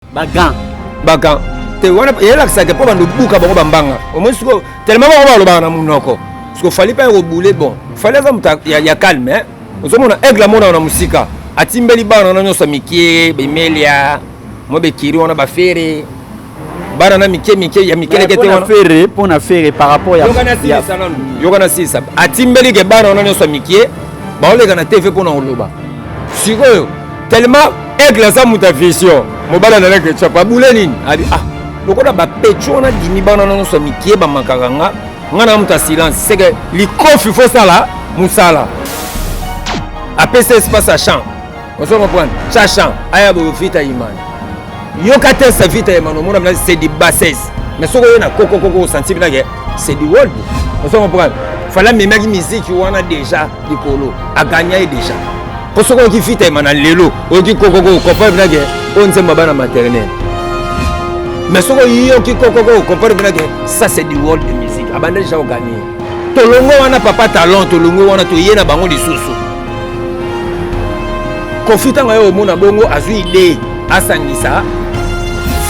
ba gants ba gants te wana eyelakisaka mpo bando buka bango bambanga omoi sikoyo telema bango balobaka na monoko sikoyo fali mpe akobule bon fali aza moto ya calme eh. ozomona aigle amonaka na mosika atimbeli bana wana nyonso mikie bemelia mwa bekiri wana bafere bana na mike mike ya mikeleke te wana fere mpo na fere par rapport ya yoka na silisa atimbeli ke bana wana nyonso ya mikie baoleka na tv mpo na koloba sikoyo tellement aigle aza moto ya vision mobali andalaki echap abule nini ali ah lokola bapecho wana dimi bana na nyonso ya mikie bamakaka nga nga na moto ya silence seke likofi fosala mosala apesa espace ya champ ozo comprendre cha champ aya boyofita imani yoka te sa vita ya mano mona c'est du bassesse mais soko ye na koko koko sentir na ke c'est du world on comprendre fala memaki miziki wana deja likolo aganya ye deja mpo soki oyoki vita ya mana lelo oyoki koko koko comprendre na ke oyo nzembo bana maternel mais soki oyoki koko koko comprendre na ke ça c'est du world de musique abanda deja oganie tolongwe wana papa talent tolongwe wana toye na bango lisusu kofi ntango aye omona bongo azwi ide asangisa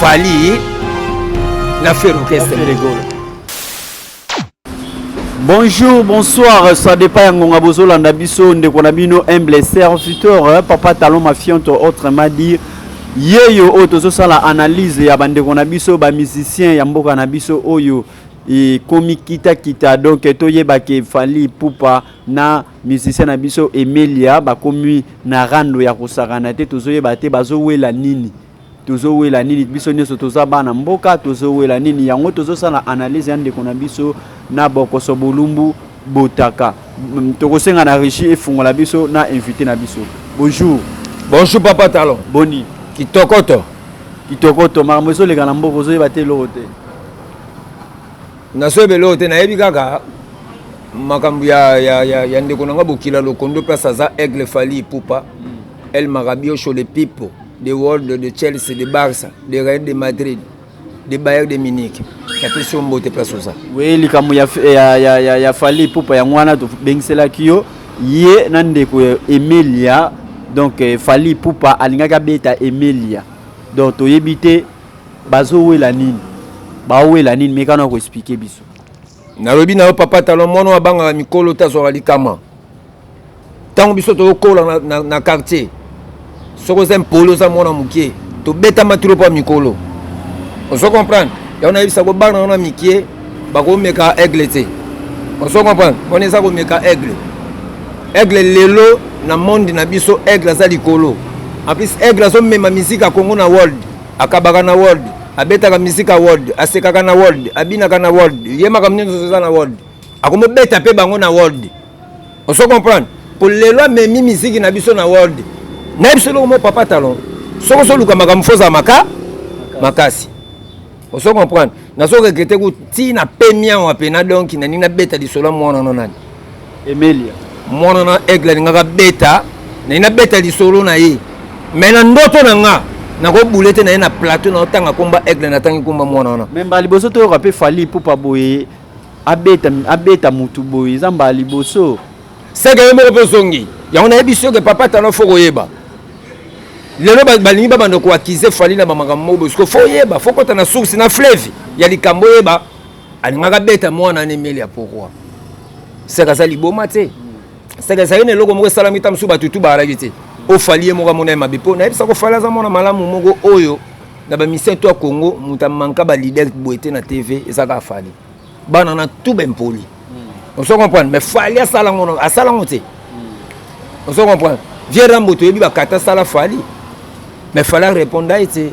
fali na ferokeste bonjour bonsoir ça dépend ya ngonga bozolanda biso ndeko na bino humble serviteur papa talon mafiante autrement dit yeyo oyo tozosala analyse ya bandeko na biso bamusicien ya mboka na biso oyo et komi kita kita donc toyeba ke Fally Ipupa na musicien na biso Emelia bakomi na rando ya kosakana te tozoyeba te bazowela nini tozowela nini biso nyonso toza bana mboka tozowela nini yango tozosala analyse ya ndeko na biso na bokoso bolumbu botaka mm, tokosenga na regie efungola biso na invité na biso bonjour bonjour papa talon boni kitokoto kitokoto makambo ezoleka na mboka ozoyeba te eloko te nazoyeba eloko te nayebi kaka makambo ya, ya, ya, ya ndeko na nga bokila lokondo place aza aigle fali ipupa el marabiocho le pipo de world de chelsea de barça de real de madrid de bayer de munich napesi yo mbote place oza we likambo ya, ya, ya, ya, ya fali ipupa yango wana tobengiselaki yo ye na ndeko ya emelia donc eh, fali ipupa alingaki abeta emelia donc toyebi te Bazo wela nini? Bao wela nini? Meka na ko expliquer biso. Nalobi na yo papa talon mwana oyo abangaka mikolo te azwaka likama. Ntango biso tokokola na, na, na quartier, soki oza impoli oza mwana mokie, tobetama tilo mpo ya mikolo. Ozo comprendre? Yango nayebisa kobanga yango na mikie. bako meka aigle te ozo comprendre on eza ko meka aigle aigle lelo na monde na biso aigle aza likolo en plus aigle azo mema musique ya Congo na world akabaka na world abetaka musique ya world asekaka na world abinaka na world ye makambo nyonso eza na world akomo beta pe bango na world ozo comprendre po lelo amemi musique na biso na world na biso loko mo papa talon soko soluka makambo fozala maka makasi ozo comprendre nazo regrete ku ti na pemia wa pena donc na nina beta lisolo ya mwana no nani emelia mwana na aigle alingaka beta na nina beta lisolo na ye me na ndoto na nga nakobule te na ye na plateau naotanga komba aigle natangi komba mwana wana me mbala liboso toyoka mpe fali ipupa boye abeta, abeta mutu boye eza mbala liboso seke yo moko mpe ozongi yango nayebi soki papa tano fo koyeba lelo balingi babanda koakize fali na bamakambo moko bosiko fo oyeba fo kota na source na fleve ya likambo oyeba alingaka beta mwana na emeli ya pourkoi seke aza liboma te seke ezali na eloko moko esalami ta mosusu bato tu baalaki te ofali ye moko amona ye mabe mpo nayebisa kofali aza mwana malamu moko oyo na bamisien to ya congo moto amanka balider boye te na tv ezaka afali bana na tout ba impoli hmm. ozo comprendre mais fali asala ngo asala ngo te hmm. ozo comprendre vieux rambo toyebi bakata asala fali mais fali areponda ye te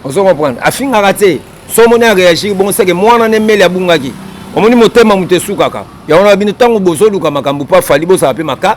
ozo comprendre afingaka te so omoni areagir bongo seke mwana na emeli abungaki omoni motema moto esukaka yango na bino ntango bozoluka makambo mpo afali bozala mpe maka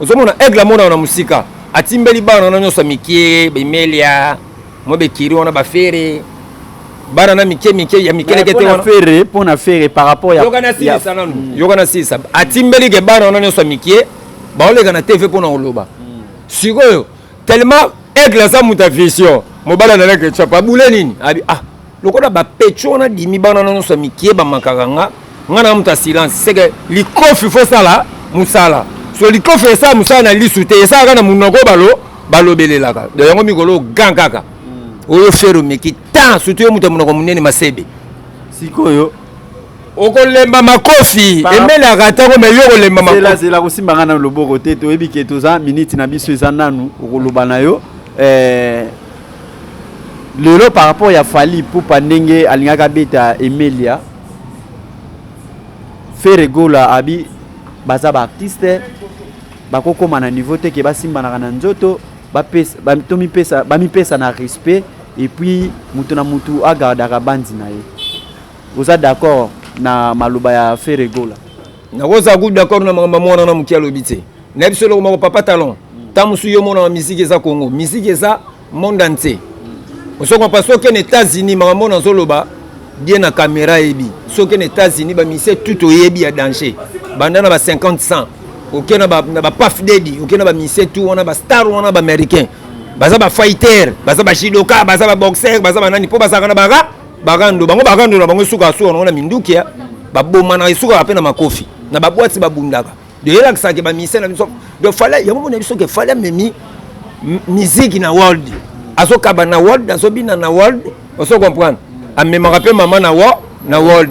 ozomona aigle amona na mosika atimbeli bana wana nyonso mikie bemelia mwa bekiri wana bafere bana na mike mike ya mikeleke te wana fere mpo na fere par rapport ya yoka nasilisa nanu mm. yoka nasilisa atimbeli ke bana wana nyonso ya mikie baoleka na tv mpo na koloba mm. sikoyo tellement aigle aza moto ya vision mobala na leke chap abule nini abi ah lokola bapecho wana dimi bana na nyonso ya mikie bamakaka nga nga na moto ya silence seke likofi fo sala mosala so likofi esala mosala na lisu te esalaka na monoko balo balobelelaka do yango mikolo ogan kaka hmm. oyo fere omeki tan surtout yo moto ya monoko monene masebe sikoyo okolemba makofi emelaka atako me yo okolemba makofizelazela kosimba ngai na loboko te toyebi ke toza miniti na biso eza nanu okoloba na yo eh, lelo par rapport ya fali pupa ndenge alingaki abeta emelia fere gola abi baza baartiste bakokoma na niveau te ke basimbanaka na nzoto bamipesa na respect epuis moto na moto agardaka banzi na ye Oza d'accord na maloba ya Ferre Gola? Nakoza ku d'accord na makambo mwana na moki alobi te. Na biso eloko moko papa talon. Tant musu yo mona musique eza Congo, musique eza monde entier. Osoko pa soki na États-Unis makambo na zoloba bien na caméra ebi. Soki na États-Unis ba musiciens tout oyebi ya danger. Banda na ba 50 100 oke na ba na ba Puff Daddy, oke na ba musiciens tout wana ba star wana ba américains. Baza ba fighter, baza ba judoka, baza ba boxer, baza ba nani po bazaka na ba Barando bango barando na bango suka suka na minduki ya babomana esukaka mpe na makofi na babwati babundaka doyelakisaka ke bamise na biso do fala yango mona biso ke fala memi miziki na world azokaba na world azobina na world ozo comprendre amemaka mpe mama na wo na world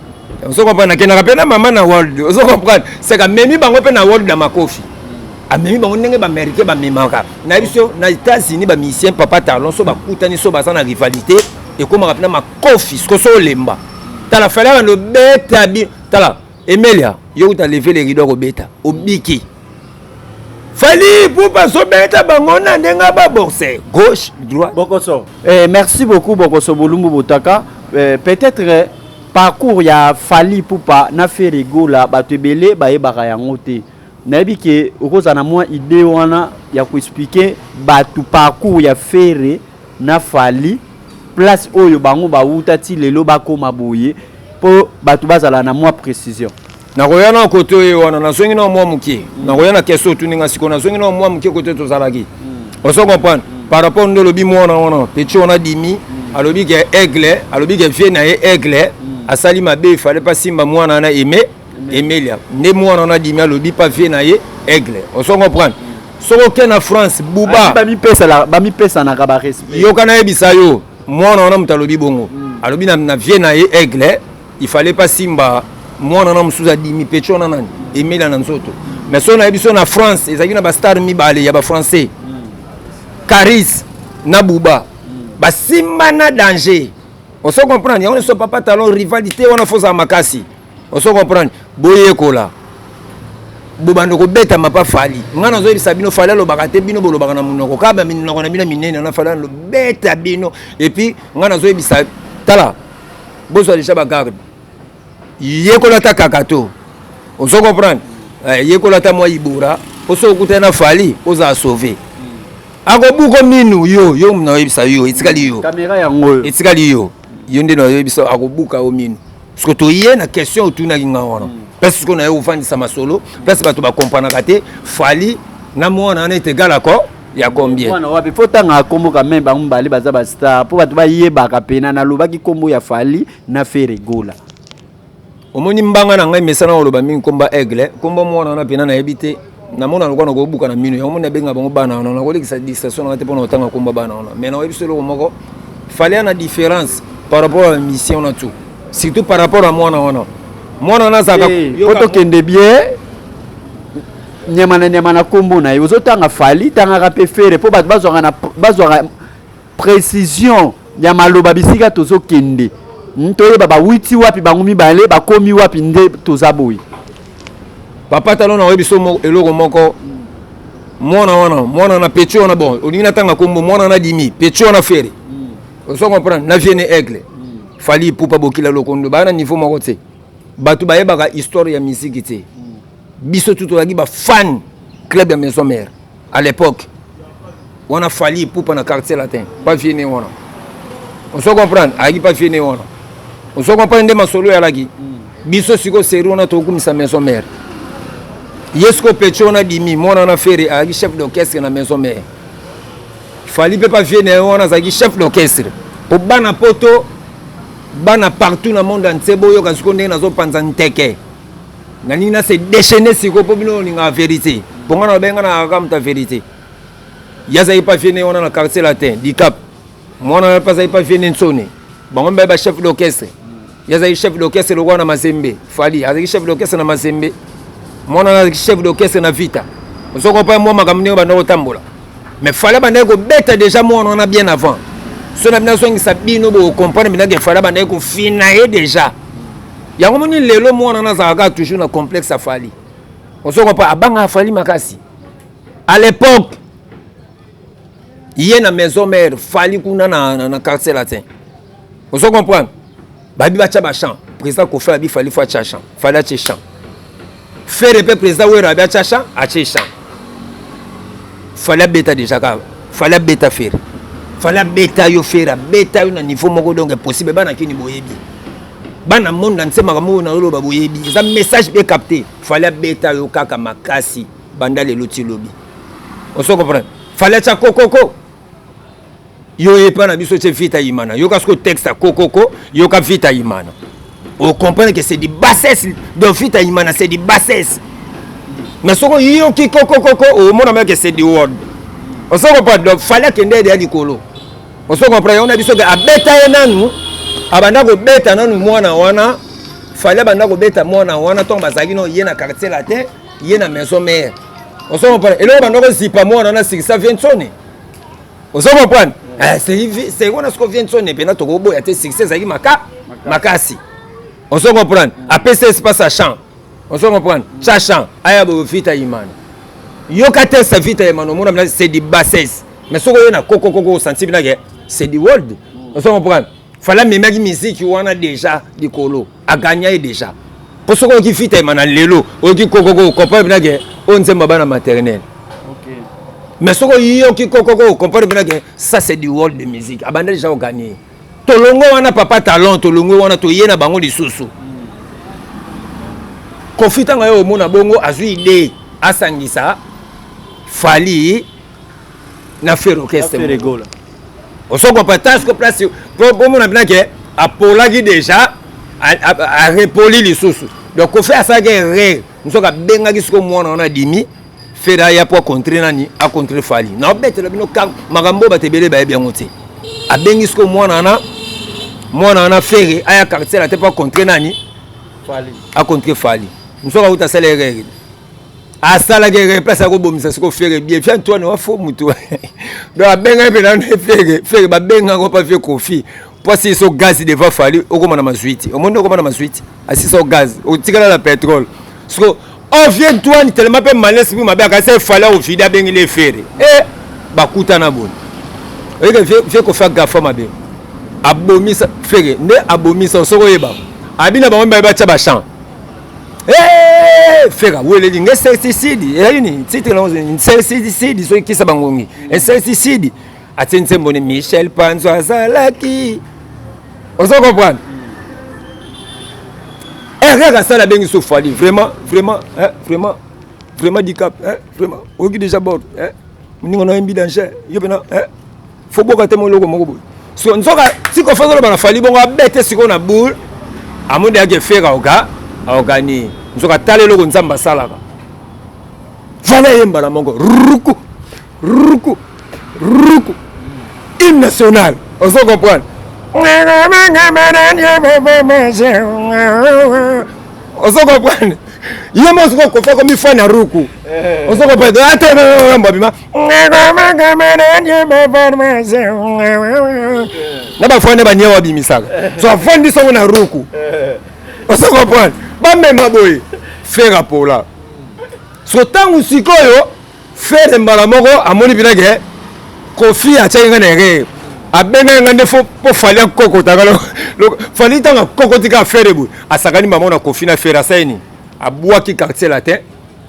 ozo comprendre nakendaka mpe na mama na world ozo comprendre seka memi bango mpe na world na makofi amemi bango ndenge baaméricain bamemaka na biso na états-unis bamisien papa talon so bakutani so baza na rivalité ekomaka mpena makofi siko so olemba tala falaka nobeta bi tala emelia yo kuta leve le rido akobeta obiki Fally Ipupa azobeta bango na ndenge ababorse gauche droite. Bokoso. Eh, merci beaucoup Bokoso Bolumbu Botaka. Eh, Peut-être eh, parcours ya Fally Ipupa na Ferre Gola bato ebele bayebaka yango te. Nayebi ke okozala na mwa idée wana ya koexplike bato parcours ya Ferre na fally place oyo bango ba wuta ti lelo ba koma boye po batu ba zala na mua precision. Nakoya nao kote oyo wana nazongi nao mwa moke mm. nakoya na question otuni nga sikoyo nazongi nao mwa moke kote tozalaki mm. ozo comprendre mm. par rapport nde olobi mwana wana petit wana dimi mm. alobi ke aigle alobi ke vie na ye aigle mm. asali mabe ifale pa simba mwana wana aime emelia nde mwana wana adimi alobi pa vie na ye aigle ozo comprendre soki oke na france buba bamipesanaka barespect yoka nayebisa yo mwana wana moto alobi bongo mm. alobi na, na vie na ye aigle il fallait pas simba mwana wana mosusu adimi pecho wana nani emelia na nzoto mais soki nayebi so na france ezalaki na bastar mibale ya bafrançais mm. caris na buba mm. basimba na danger oso comprendre yango nyonso papa talon rivalité wana fozala makasi oso comprendre boyekola bobanda kobeta mapa fali ngai nazoyebisa bino fali alobaka te bino bolobaka na monoko kaka minoko na bino minene na fali alobeta bino epuis ngai nazoyebisa tala bozwa deja bagarde yekola ta kaka to ozo comprendre eh, yekola ta mwa ibora mpo soki okutani na fali ozala sauve akobuko minu yo yo naoyebisa yo etikali yo etikali yo yo nde naoyebisa akobuka yo minu soki toye na question otunaki nga wana mm. place sikoyo naye ofandisa masolo place bato bakompranaka te fali na mwana wana ete egal accord ya combien mwana wapi fo tanga kombo ka meme bango mibale baza ba star mpo bato bayebaka mpena nalobaki kombo ya fali na fere gola omoni mbanga na ngai mesana koloba mingi komba aigle kombo mwana wana mpena nayebi te na mona lokola na kobuka na mino yango moni abenga bango bana wana nakolekisa distraction nanga te mpona kotanga komba bana wana mais nakoyebi biso eloko moko fale ana différence par rapport ya mission na tu surtout par rapport ya mwana wana mwana wana azalaka eh, po tokende bien nyama na nyama na nkombo na ye ozotanga fali tangaka mpe fere mpo bato bazwaka precision ya maloba bisika tozokende hmm, toyeba bawiti wapi bango mibale bakomi wapi nde toza boye papa talo na oyebi so eloko moko mwana wana mwana na pecho wana bon olingi natanga kombo mwana na dimi pecho wana fere hmm. ozo comprendre na viene aigle hmm. fali ipupa bokila lokondo baa na niveau moko te bato bayebaka histoire ya miziki te biso tu tozalaki bafane club ya maison mare à l'époque wana fali ipupa na quartier latin pa vieux ne wana ozo comprendre ayaki pa vieux ne wana ozo comprendre nde masolo yalaki biso sikoyo seri wana tokumisa maison mère ye sikoyo peche wana bimi mwana wana fere ayaki chef d'orchestre na maison mère fali mpe pa vieux ne wana azalaki chef d'orchestre mpo bana poto bana partout na monde entier boyoka sikoyo ndenge nazopanza nteke nalingi na se déchaîner sikoyo mpo bino olingaka verité mpo ngai nalobai ngai nakaka moto ya verité ye azalaki mpe aviene wana na quartier latin dicap mwana wana mpe azalaki mpe aviene nsone bango mibali bachef d'orchestre ye azalaki chef d'orchestre lokola na mazembe fali azalaki chef d'orchestre na mazembe mwana wana azalaki chef d'orchestre na vita ozokopa mwa makambo ndenge banda kotambola mais fala bandaki kobeta deja mwana wana bien avant so na bino azongisa bino bokokomprendre bino ke fala bandaki kofina ye deja yango moni lelo mwana wana azalaka toujours na complexe afali ozokopa abanga afali makasi à l'époque ye na maison mère fali kuna na, na, na quartier latin ozo comprendre babi batya bachamp président kofi abi fali fo atya champ fali atye champ fere mpe président wera abi atya champ atye champ fali abeta déjà ka fali abeta fere fali abeta yo fere abeta yo na niveau moko donc impossible bana kini boyebi bana monde na nse makambo oyo nayoloba boyebi eza message mpe capte fali abeta yo kaka makasi banda lelo ti lobi oso comprendre fali atya kokoko yo epa na biso ce vita imana yoka siko texte ya kokoko yoka vita imana ocomprendre ke c'est du bassesse donc vita imana c'est du bassesse mais soko yoki kokokoko omona meke c'est du word oso comprendre donc fali akende ede ya likolo oso comprendre yango na biso ke abeta ye nanu abanda kobeta nanu mwana wana fali abanda kobeta mwana wana ntongo bazalaki no ye na quartier latin ye na maison mère ozo comprendre eloko banda kozipa mwana na sikisa viensone ozo comprendre eh, seko wana soko viensone mpena tokoboya te sikisa ezalaki maka makasi ozo comprendre apesa espace a champ ozo comprendre cha champ aya boyo vita imana yoka te sa vita imana omona mna c'est du bassesse mais soko oye na kokokoko osanti binake c'est du world ozo comprendre fala amemaki miziki wana deja likolo a gagna ye dejà po soki oyoki fita ema na lelo oyoki kokoko comprendre mpena ke oyo nzembo ya bana maternel mais soki oyoki kokoko comprendre mpena ke ça c'est du world de musique abanda dejà kogagne tolongo wana papa talent tolongo wana toye na bango lisusu kofi ntango aye omona bongo azwi idee asangisa fali na ferre orchestre ferre gola osoko patas ko place po bomona bina ke apolaki déjà arepoli lisusu donc kofi asalaki erreur nzoka abengaki siko mwana wana adimi feda aya mpo acontre nani acontre fali naobetela bino makambo oyo bato ebele bayebi yango te abengi siko mwana wana mwana wana fere aya quartier na te mpo acontre nani acontre fali nzoka uta asala erreur asalaki eke place akobomisa siko fere bie fi antoine wa fo motu donc abengaki mpe nano fere fere babengaki ngo mpa fie kofi mpo asili so gaz devant fali okoma na mazwi te omoni okoma na mazwi te asili so gaz otikala na petrole siko ovie oh, ntoine telema mpe malesi mpe mabe akasi efali akovide abengeli efere e eh, bakutana boni oyeke fie kofi agafa mabe abomisa fere nde abomisa osoko oyeba abi na bango mibale batya bachamp Hey, fera weleli nge certicide ezali nini titre na certicide soki kisa bangongi certicide atie nsembo ni michel panzo azalaki ozo comprendre erreur asala abengi so fali vraiment vraiment hein, vraiment vraiment dicap hein, vraiment oyoki déjà bord hein, moninga na yembi danger yo mpena hein, fo boka te moloko moko boye so nzoka siko fo azoloba na fali bongo abete sikoyo na boule amoni yake fere aoka aoganie nzoka tala eloko nzambe asalaka vala ye mbala moko ruku ruku ruku hymne national ozo comprendre ozo comprendre ye mo ozo kokofa komifana ruku ozo comprendre ata mbabima na bafrane bania wabimisaka so afandi sango na ruku osa comprendre bamema boye fere apola so ntango sikoyo fere mbala moko amoni mpena ke kofi atyaki ngai na erreur abengaki ngai nde mpo fali akokotaka fali ntango akokotika fere boye asakani mbala moko na kofi na fere asali nini abwaki quartier latin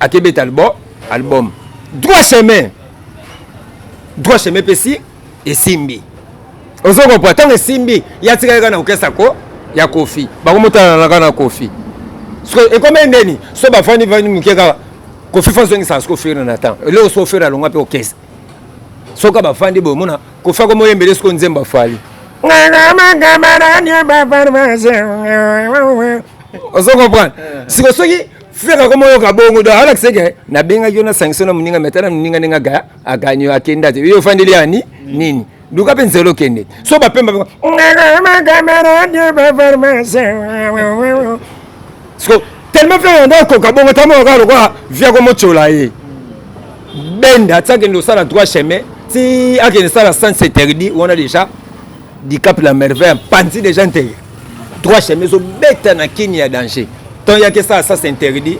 Akebet album, album. Droit chemin. Droit chemin pesi esimbi. Ozo comprendre tango esimbi ya tika kaka na orchestre ko ya Kofi. Bako motana na kana Kofi. Sko ekome ndeni so ba fani fani muke kaka Kofi fa zongi sa sko fere na temps. Leo so fere alonga pe orchestre. Soka ba fandi bo mona Kofi ko moyembele sko nzemba fali. Ozo comprendre. Siko soki Frère akoma oyoka bongo do ala kiseke na benga yo na sanction na muninga metana muninga ninga ga aganyo akenda te yo fandeli ani nini luka mpe nzela okende so bapemba siko tellement mpe yanda okoka bongo tamoka lokola via komotyola ye benda ti akende osala droit chemin ti akende sala sens interdit wana déjà dicap la merveille mpanzi déjà nteye trois chemins ezobeta na kini ya danger ntango yaki esala sas interdit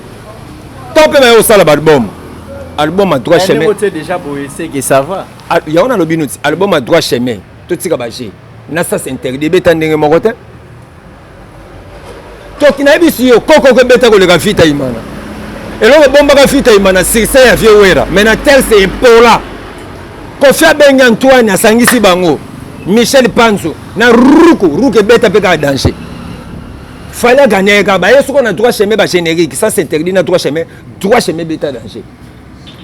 ntango mpe baye kosala baalbum album ya trois chemin ah, yango nalobi noti album ya trois chemin totika baje na sas interdit ebeta ndenge moko te toki nayebisi yo kokoko ebeta koleka vita imana eloko bombaka vita imana succès ya vieux wera mais na telse epola kofi abengi antoine asangisi bango michel panzo na ruku ruku ebeta mpe kaka danger fali aganye kaka baye soko na droit chemin bagénérique ça s'interdit na droit chemin droit chemin ebeta danger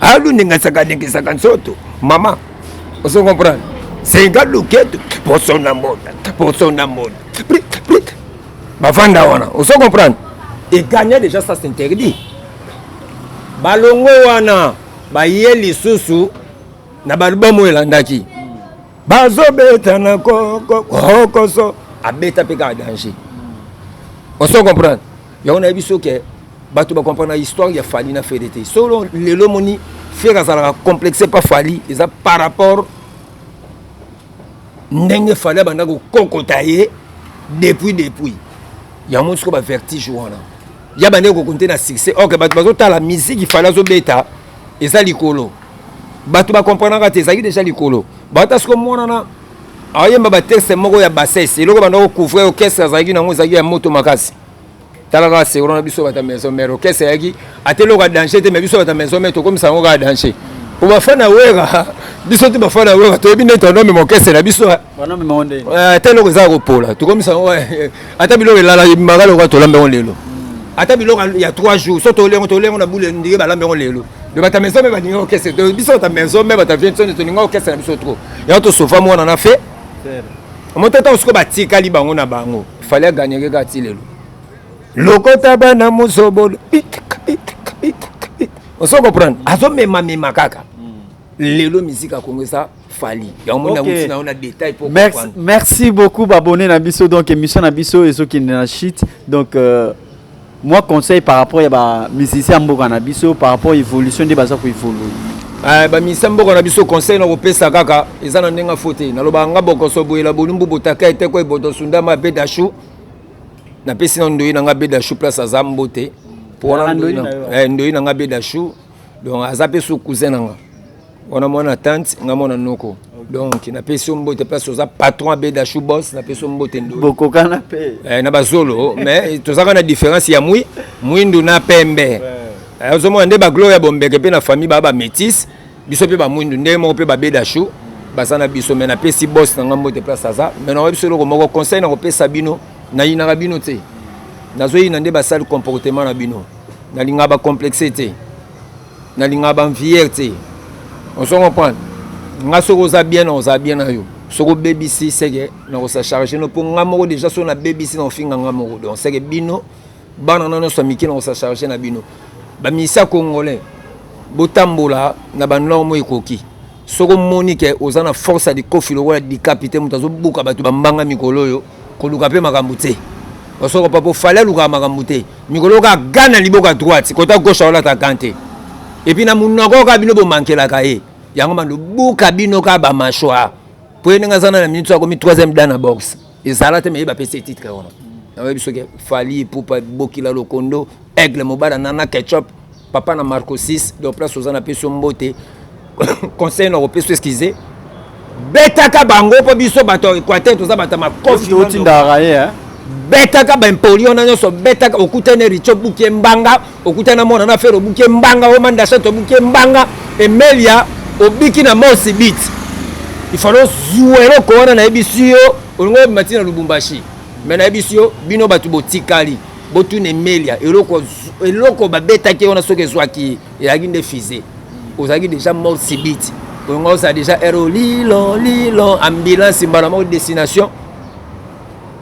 alu ndenge asakanikisaka nzoto mama ozo comprendre senga luketu poso na mbota poso na mbota bafanda wana ozo comprendre eganye déjà ça s'interdit balongo wana baye lisusu na balbum oyo elandaki bazobeta na kokoso abeta mpe kaka danger oso comprendre yango nayebi so ke bato bacomprendre na histoire ya fali na fere te solo lelo omoni fere azalaka complexe mpa fali eza par rapport ndenge fali abanda kokokota ye depuis depuis yango siko ba vertige wana ya bande kokonte na succès ok bato bazotala miziki fali azobeta eza likolo bato bakomprenaka te ezalaki deja likolo bata siko monana ayemba batexte moko ya bassesse eloko banda kocouvrir orchestre azalaki nango ezalaki ya moto makasi tala kaka segro na biso bata maison mère orchestre ayaki ata eloko ya danger te mais biso bata maison mère tokomisa yango kaka danger po bafani ya wera biso te bafani ya wera toyebi nde tonome morkestre na biso eh. eh, ata eloko eza kopola tokomisa yango eh, ata biloko elala ebimaka lokola tolambi yango lelo hmm. ata biloko ya 3 jours so toli yango toli yango na bule ndenge balambi yango lelo de bata maison mère balingi orchestre biso bata maison mère bata vie nsoni tolingi orchestre na biso trop yango tosofa mwana na fe moto ata osiko batikali bango na bango fallait aganyeke kaka ti lelo lokota bana mozobolo ozo comprendre azomemamema kaka lelo miziki akongo eza fali yango okay. nakuti na yo na détail po merci, merci beaucoup babone na biso donc émission na biso ezokende na chute donc euh, Moi conseil par rapport ya ba musiciens mboka na biso par rapport evolution nde baza ko evolue. Eh, ba musiciens mboka na biso conseil na kopesa kaka eza na ndenge fo te naloba nga bokoso boyela bolumbu botaka ete ko eboto sundama be dashu napesi na ndoyi na nga be dashu place aza mbote po wana ndoyi na nga be dashu donc aza mpe so cousin na nga wana mwana tante nga mwana noko donc napesi yo mbote place oza patron ya beda chou bos napesi yo mbote bokokana mpe eh, na bazolo mais tozalaka na différence ya mwi mwindu na pembe eh, ozomona nde baglo ya bombeke mpe na famille baa bamétise biso mpe bamwindu ndenge moko mpe babeda chou baza na biso mais napesi bos na nga mbote place aza mais nakoyebi biso eloko moko conseil nakopesa bino nayinaka bino te nazoyina nde basali comportement na bino Nalingaka ba complexe te. Nalingaka ba envier te. On se comprendre. Nga soki oza bien na oza bien na yo. Soki obebisi seke na kosa charge no po nga moko déjà soki na bebisi na ofinga nga moko. Donc seke bino bana na nyoso mike na kosa charge na bino. Ba misia congolais botambola na ba normes ekoki. soki omoni ke oza na force ya likofi lokola dikapite moto azobuka bato bambanga mikolo oyo koluka mpe makambo te osoko pa po fale alukaka makambo te mikolo oyo kaka gana liboka droite kota gauche aolata gan te epuis na monoko oyo kaka bino bomankelaka ye yango mandobuka bino kaka bamashwa mpo ye ndenge aza na na minute akomi troisième dan na boxe ezala te meye bapesi ye titre wana nayebi soki fali epupa bokila lokondo aigle mobala nana ketchup papa na marco 6 donc place oza na peso mbote conseil na kopeso excuse betaka bango mpo biso bato ya équateur toza bato ya makofi otindaka ye eh? betaka baimpoli wana nyonso betaka okutani riche obuki mbanga okutani na mwana na fere obuki mbanga omandashat obuki mbanga emelia obiki na mosi bit ifalo ozwa eloko wana nayebisi yo olingi obima ntina lubumbashi me nayebisi yo bino bato botikali botuna emelia eloko eloko babetaki wana soki ezwaki ezalaki nde fise ozalaki déjà mort sibiti kongo ozala déjà ero lilo lilo ambulance mbala moko destination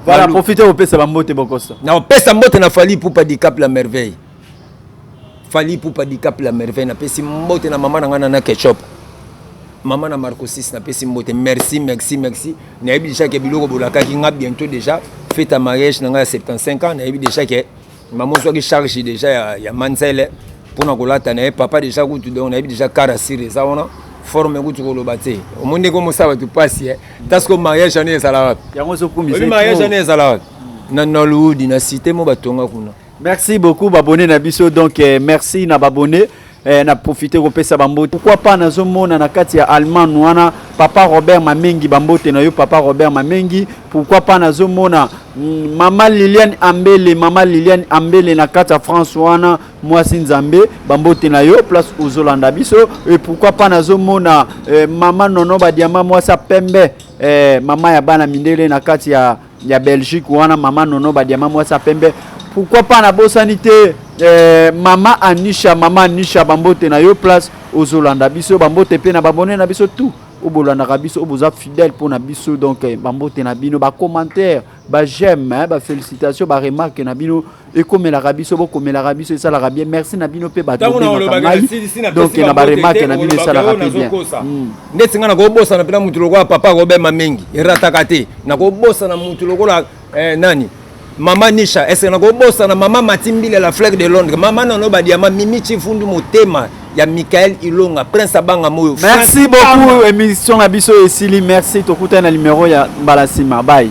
voilà profite opesa bambote bokosa na opesa mbote na fali pupa dicap la merveille Fally Ipupa Dicap la merveille na pesi mbote na mama na nga na ketchup mama na Marco 6 na pesi mbote merci merci merci nayebi déjà ke biloko bolakaki nga bientôt déjà feta mariage na nga ya 75 ans nayebi déjà ke mama ozwaki charge déjà ya, ya manzele mpona kolata na ye papa déjà kutu donc nayebi déjà kara sire eza wana forme kutu koloba te omoni ndenge omosala bato mpasi e taske mariage wana ezala wapi mariage wana ezala wapi na nolwood na cité mo batonga kuna Merci beaucoup babone na biso donc eh, merci na babone eh, na profite kopesa bambote pourquoi pas nazomona na kati ya allemagne wana papa robert mamengi bambote na yo papa robert mamengi pourquoi pas nazomona mm, mama liliane ambele mama liliane ambele na kati ya france wana mwasi nzambe bambote na yo place ozolanda biso e pourquoi pas nazomona eh, mama nono badiama mwasi ya pembe eh, mama ya bana mindele na kati ya ya Belgique wana mama nono ba diamant mwasi ya pembe pourquoi pas nabosani te eh, mama anisha mama anisha bambote na yo place ozolanda biso bambote mpe na babone na biso tout oyo bolandaka biso oyo boza fidèle mpo na biso donc eh, bambote na bino bacommentaire bajeme eh, bafélicitation baremarke na bino ekomelaka biso bokomelaka biso esalaka bien merci na bino mpe batodonke na baremake na bino esalaka mpe bien hmm. ndeti ngai nakobosana mpena motu lokola papa akobema mingi erataka te nakobosana motu lokola eh, nani mama nisha eske nakobosana mama matimbile la flaque de londres mama nano badiama mimi chifundu motema ya michael ilonga prince abanga moyo merci beaucoup émission na biso esili merci tokutani na numero ya mbala nsima bai